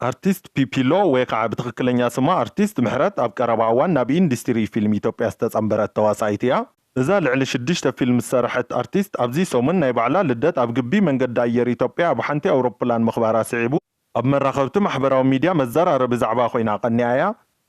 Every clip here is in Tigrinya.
ኣርቲስት ፒፒሎ ወይ ኸዓ ብትኽክለኛ ስማ ኣርቲስት ምሕረት ኣብ ቀረባ እዋን ናብ ኢንዲስቲሪ ፊልም ኢትዮጵያ ዝተፀምበረት ተዋሳኢት እያ። እዛ ልዕሊ ሽዱሽተ ፊልም ዝሰርሐት ኣርቲስት ኣብዚ ሰሙን ናይ ባዕላ ልደት ኣብ ግቢ መንገዲ ኣየር ኢትዮጵያ ኣብ ሓንቲ ኣውሮፕላን ምኽባራ ስዒቡ፣ ኣብ መራኸብቲ ማሕበራዊ ሚድያ መዘራረቢ ዛዕባ ኮይና ቀኒኣ እያ።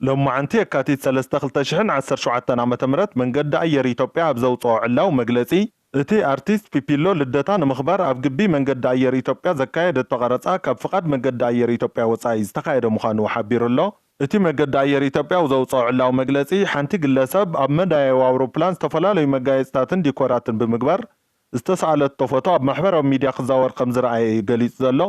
ሎማዕንቲ የካቲት ሰለስተ ክልተ ሽሕን ዓሰርተ ሸውዓተን ዓመተ ምህረት መንገዲ ኣየር ኢትዮጵያ ኣብ ዘውፀኦ ዕላዊ መግለፂ፣ እቲ ኣርቲስት ፒፒሎ ልደታ ንምኽባር ኣብ ግቢ መንገዲ ኣየር ኢትዮጵያ ዘካየደቶ ቀረፃ ካብ ፍቓድ መገዲ ኣየር ኢትዮጵያ ወፃኢ ዝተኻየደ ምዃኑ ሓቢሩ ኣሎ። እቲ መገዲ ኣየር ኢትዮጵያ ኣብ ዘውፀኦ ዕላዊ መግለፂ፣ ሓንቲ ግለሰብ ኣብ መዳያይቦ ኣውሮፕላን ዝተፈላለዩ መጋየፅታትን ዲኮራትን ብምግባር ዝተስኣለቶ ፎቶ ኣብ ማሕበራዊ ሚድያ ክዛወር ከምዝረኣየ እዩ ገሊፁ ዘሎ።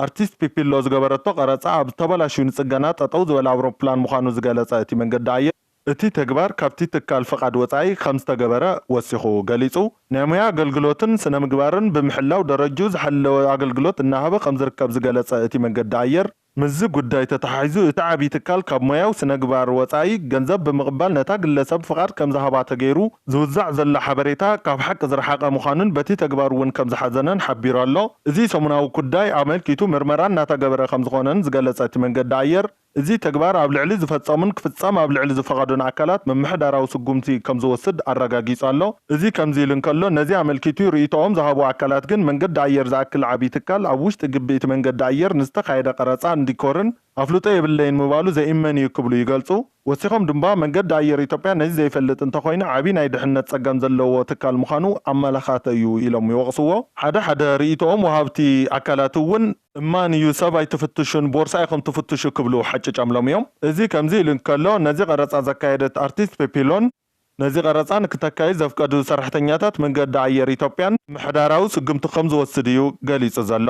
ኣርቲስት ፒፒሎ ዝገበረቶ ቀረጻ ኣብ ዝተበላሽዩ ንጽገና ጠጠው ዝበለ ኣውሮፕላን ምዃኑ ዝገለጸ እቲ መንገዲ ኣየር፣ እቲ ተግባር ካብቲ ትካል ፍቓድ ወጻኢ ከምዝተገበረ ወሲኹ ገሊጹ። ናይ ሞያ ኣገልግሎትን ስነ-ምግባርን ብምሕላው ደረጅኡ ዝሓለወ ኣገልግሎት እናሃበ ከምዝርከብ ዝገለጸ እቲ መንገዲ ኣየር፣ ምስዚ ጉዳይ ተተሓሒዙ እቲ ዓብዪ ትካል ካብ ሞያዊ ስነግባር ወጻኢ ገንዘብ ብምቕባል ነታ ግለሰብ ፍቓድ ከምዝሃባ ተገይሩ ዝውዛዕ ዘሎ ሓበሬታ ካብ ሓቂ ዝረሓቐ ምዃኑን በቲ ተግባሩ እውን ከምዝሓዘነን ሓቢሩ ኣሎ። እዚ ሰሙናዊ ኩዳይ ኣመልኪቱ ምርመራ እናተገበረ ከምዝኾነን ዝገለፀ እቲ መንገዲ ኣየር፣ እዚ ተግባር ኣብ ልዕሊ ዝፈፀሙን ክፍፀም ኣብ ልዕሊ ዝፈቐዱን ኣካላት ምምሕዳራዊ ስጉምቲ ከምዝወስድ ኣረጋጊፁ ኣሎ። እዚ ከምዚ ኢሉ እንከሎ ነዚ ኣመልኪቱ ርኢቶኦም ዝሃቡ ኣካላት ግን መንገዲ ኣየር ዝኣክል ዓብዪ ትካል ኣብ ውሽጢ ግቢ እቲ መንገዲ ኣየር ንዝተኻየደ ቀረፃን ዲኮርን ኣፍልጦ የብለይን ምባሉ ዘኢመን እዩ ክብሉ ይገልፁ። ወሲኾም ድማ፣ መንገዲ ኣየር ኢትዮጵያ ነዚ ዘይፈልጥ እንተኾይኑ ዓብዪ ናይ ድሕነት ፀገም ዘለዎ ትካል ምዃኑ ኣመላኻተ እዩ ኢሎም ይወቕስዎ። ሓደ ሓደ ርኢቶኦም ወሃብቲ ኣካላት እውን፣ እማን እዩ ሰብ ኣይትፍትሹን ቦርሳ ኢኹም ትፍትሹ ክብሉ ሓጭጨምሎም እዮም። እዚ ከምዚ ኢሉ እንከሎ፣ ነዚ ቐረፃ ዘካየደት ኣርቲስት ፔፒ ሎን፣ ነዚ ቐረፃ ንክተካይድ ዘፍቀዱ ሰራሕተኛታት መንገዲ ኣየር ኢትዮጵያን ምሕዳራዊ ስጉምቲ ከምዝወስድ እዩ ገሊፁ ዘሎ።